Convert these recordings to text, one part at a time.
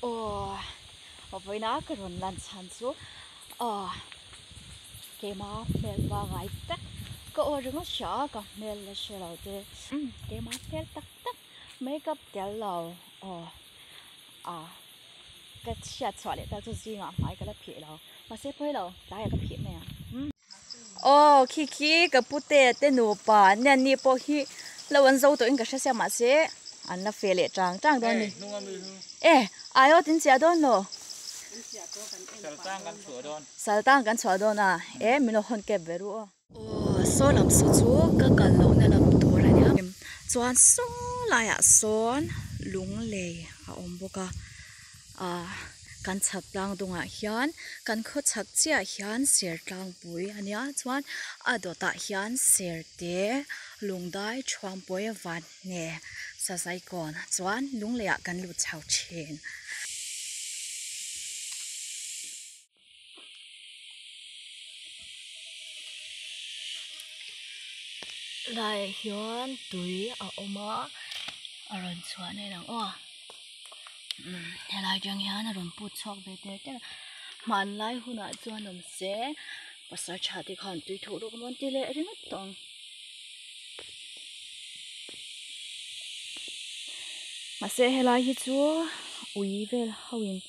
Aw vawiin a ka rawn lan chhan chu aw keima hmel pa ngai tak ka aw ringawt a hria a ka hmel la hre lo te umm keima hmel tak tak make up tel lo aw a ka chhiat chhuah leh tal chu zingah hmai ka la phih lo mahse pawi lo tlaiah ka phih mai ang umm. Aw, khi khi ka pu te te nupa nen ni pawh hi lo an zo tawhin ka hre sia mahse an la fe leh chang chang dawn ni. E, aio tin chiah dawn lo. Saltang kan chhuah dawn. Saltang kan chhuah dawn a. E, min lo hawn kep ve ru aw. Aw, saw lam saw chu ka kal loh na lam tur a nia. Chuan saw laiah sawn lung lei a awm bawk a. Ahh kan chhak tlang dawngah hian kan khaw chhak chiah hian Sertlangpui a nia chuan a dawtah hian Serte Lungdai Chhuangpawi Vanhne Sazaikawn chuan lungleiah kan lut chho thin. tlaiah hian tui a awm a a rawn chhuah na a lang aw umm helai atang hian a rawn put chhuak ve teh teh a hman lai hunah chuan awm se pasal tha te khan tui thuh lawk a mawn ti leh ringawt tawh ang mahse helai hi chu ui vel ho in--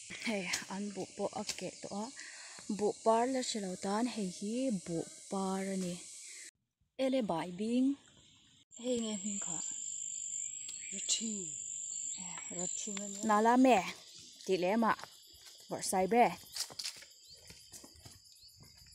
Hei an buh pawh a keh tawh a buh par la hre lo tan hei hi buh par a ni ele bai bing hei nge hming kha nala me tih leh mah varsai ber.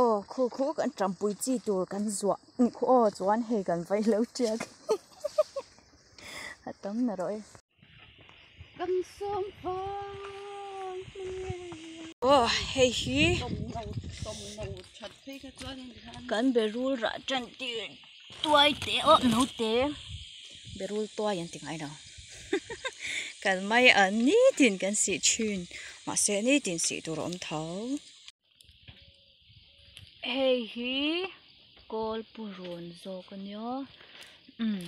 Aw khu khu kan ṭampui chi tur kan zuah khu aw chuan hei kan vaih lo ṭial a tam nalh rawh e. Kan sawm phawng aw hei hi kan berul rah ṭan tir tuai te aw naute berul tuai an ti ngai lo kalmai an ni tin kan sih ṭhin mahse ni tin sih tur a awm tho. hei hi kawl purun zawk a nia umm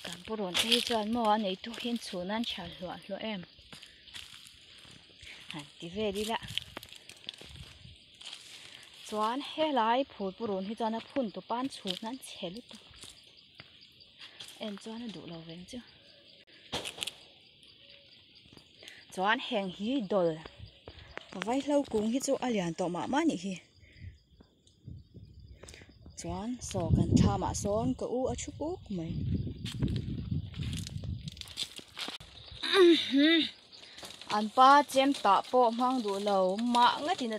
kan purun te hi chuan maw a neitu hi an chhun a an chhia hluah hluah em han ti ve dil a chuan helai phûr purun hi chuan a phun tu pan chhun a an chhe lutuk en chuan a duh lo veng chu. chuan heng hi dawr vai hlo kung hi chu a lian tawh mah mah nih hi chuan saw kan thla mah sawn ka u a thu puk mai an pa chem tah pawh hmang duh lo mah ngatin a thu a.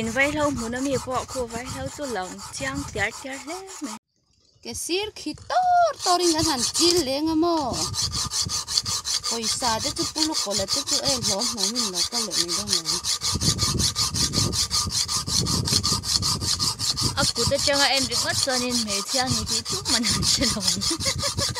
In vai hlo hmun ami pawh khu vai hlo chu lo chiang tiar tiar hle mai. Ke sir khi tawr tawr in an han kil leng a maw? Pawisa te chu pulu kawla te chu ei hlawm hlawm in lo kal leh mai dawn lo. A kut atanga en ringawt chuan in hmeichhia a ni tih chu man han hre lo ang.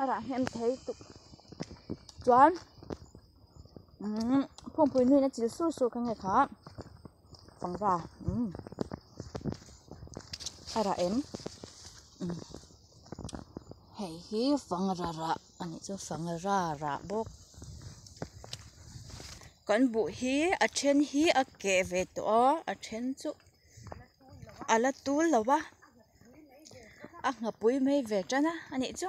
a rah nghen thei tuk chuan umm phungpui nuin a chil sur sur ka nge kha fangra umm a rah em umm hei hi fangra rah a nih chu fangra rah bawk kan buh hi a then hi a keh ve tawh a a then chuh-- a la tul lo va a nghapui mai ve tan a a nih chu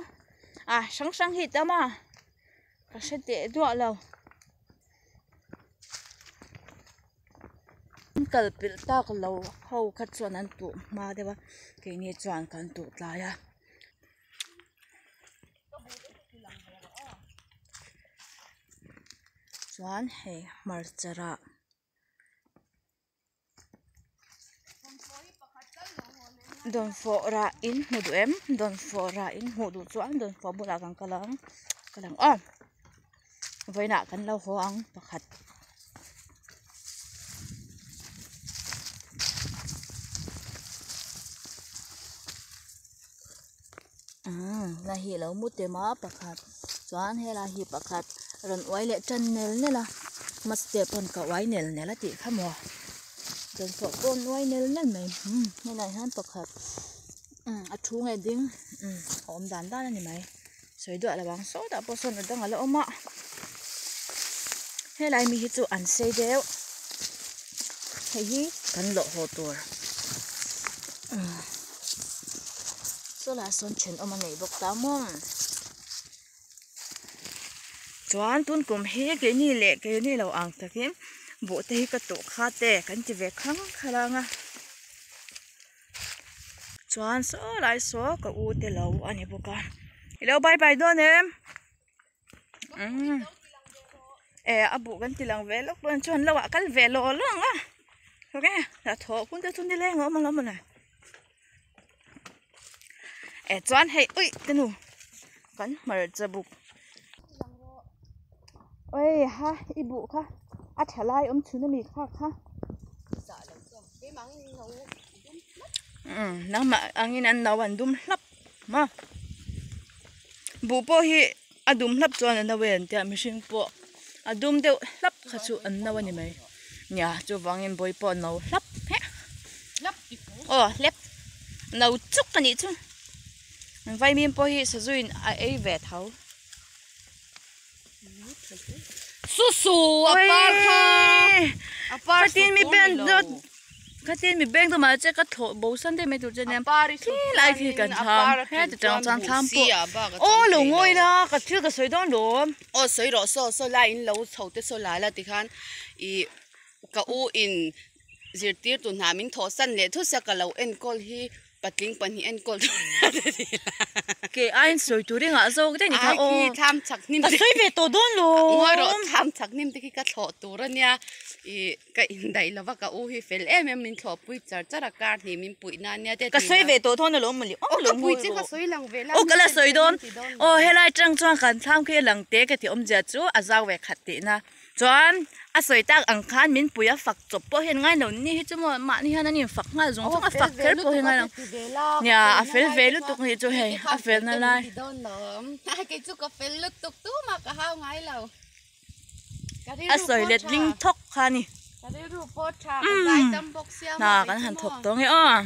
a hrang hrang hi tam a ka hre teh duah lo an kalpilh tak lo ho kha chuan an tuam hma deuh a keini chuan kan tuh tlai a. dawn fawh rah in hmu duh em dawn fawh rah in hmuh duh chuan dawn fawh bulah kan ka la ang ka lang aw vawiinah kan lo haw ang pakhat umm hei hi lo mu tel a pakhat chuan hei lai hi pakhat rawn uai leh tan nel nel a hma step erawh ka uai nel nel a tih kha hmu a chawnpawh pawh an uai nel nel mai umm hei lai hian pakhat umm a thu nge ding umm a awm dan dan a ni mai sawi duah lo ang saw dahpawh sawn a dang ala awm a hei lai mi hi chu an sei deuh hei hi kan lawh haw tur umm. Solar sawn then awm a nei bawk ta mawm. Chuan tun kum hi keini leh keini lo ang takin bohte hi ka tawh khat e kan ti ve khang khar ang a. Chuan saw lai saw ka ute lo a ni bawk a. I lo bye bye dawn em. umm eh a buh kan tih lang ve lawk pawh chuan lo ah kal ve lo lo ang a hawk e tah thawh phun te chu ni leng a awm ang a mawni eh chuan hei uih te nu kan hmarcha buk oi ha i buh kha a tha lai awm chhun a mi kha kha umm nangmah angin an no an dum hlap. Ma buh pawh hi a dum hlap chuan a no e an tia mihring pawh a dum deuh hlap kha chu an no a ni mai nia chuvangin bawi pawh a no hlap hek aw hlep no chuk a nih chu vaimim pawh hi sazu in a ei ve tho. Susu a par kha a par su tur ni lo khatin mi bank deuh mah che ka thlawh bo san daih mai tur chu nia khilai khi kan tham heta tang chuan tham pawh aw lo ngawi la ka thil ka sawi dawn lo aw sawi rawh saw saw la in lo chho te saw la la ti khan ih ka u in zirtir tun hna min thawh san leh thusa ka lo enkawl hi. Patling pahnih a enkawl dawn hian a ni la. Ke aiin sawi tur engah zawk daih ni kha aw. Ai khi thlam chak hnim te. Ka sawi ve tawh dawn lo. A ngawi rawh thlam chak hnim te khi ka thlawh tur a nia i ka indaih lova ka u hi fel em em min thlawhpui char char a kar hnih min puih nan nia tia tih ka sawi ve tawh thawn alawm mawni aw ka pui che ka sawi lang ve la aw ka la sawi dawn aw helai tang chuan kan thlam khi a lang te ka tihawm zia chu a zau ve khat tihna. Chuan a sawi tak ang khan min pui a fak chawp pawh hian ngailo ni hi chu maw mahni hian an infak nghal zawng zawng a fak kher pawh hi ngailo nia a fel ve lutuk ni chu hei a fel na lai a sawi let ding thawk kha a ni umm hna kan han thawk dawnge aw.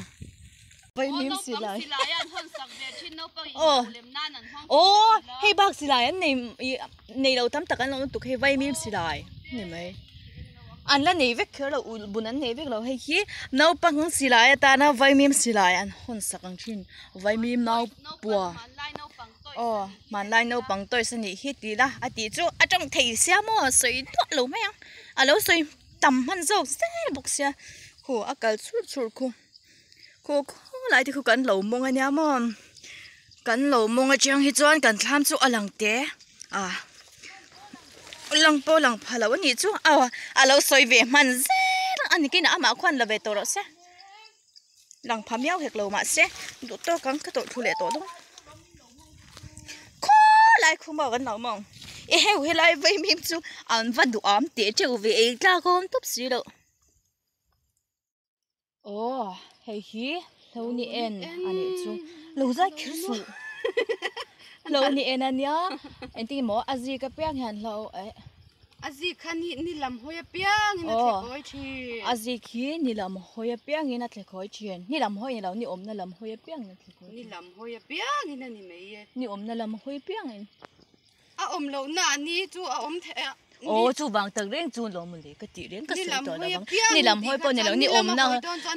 Pawimim si lai. Oh, oh, hei bak si lai an nei, nei lo tam tak an lo tuk hei vaimim si lai. Ni mai. An la nei vek kher lo, bun an nei vek lo hei hi. Nau pang si lai ata na vaimim si lai an hon sak ang chin. Vaimim nau pua. Oh, man lai nau pang toi sa ni hi ti la. Ati chu atong thei sia mo soi tuak lo mai ang. Alo soi tam man zok se bok sia. Khu akal chur chur khu. Khaw khaw lai te khu kan lo mawng a nia maw, kan lo mawng atang hi chuan kan thlam chu a lang te a, lang pawh lang pha loh a nih chu aw a lo sawi ve hman zêl a ni khin a amah khaw a ni lo ve tawh loh se lang pha miau hek lo mah se duh tawk ang ka tawrh thu leh tawh dawn khaw lai khu maw kan lo mawng e heu helai vawi hming chu an va duh âwm teh teuh ve ei tlâk âwm tawp si lo. Aww hei hi hlo ni en a nih chu lo zai kher suh hlo ni en ania engtin emaw a zik apiang hian hlo eh a zik kha ni ni lam hawi apiang in a thle kawi thin a zik hi ni lam hawi apiang in a thle kawi thin ni lam hawi ilo ni awmna lam hawi apiang in a thle kawi thin ni lam hawi apiang in a ni mai e ni awmna lam hawi apiang in. A awm loh na ni chu a awm theih a. Aw chu vang tak reng chu lo mawle ka tih reng ka sawi tawh lo vang ni lam hawi pawh nilo ni awm na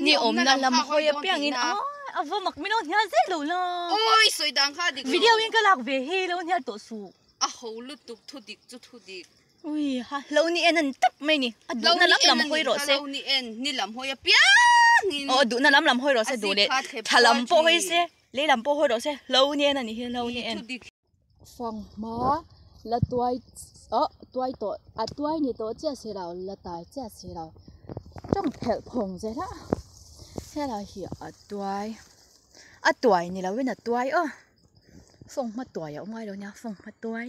ni awm na lam hawi apiang in aw a va mak min aw hnial zet lo la awi sawi dan kha dik lo video in ka lak ve hi lo hnial tawh suh a ho lutuk thu dik chu thu dik ui ha lo ni en ani tak mai ni a duh na lam lam hawi rawh se lo ni en ni lam hawi apiang in aw a duh na lam lam hawi rawh se duh leh tha lam pawh hawi se lei lam pawh hawi rawh se lo ni en ani hi lo ni en. fang hma la tuai awh tuai tawh a tuai ni tawh chiah si lo la tai chiah si lo tawng phelh phawng zet a helai hi a tuai a tuai ni lo in a tuai aw fawng hma tuai a awm ngai lo nia fawng hma tuai.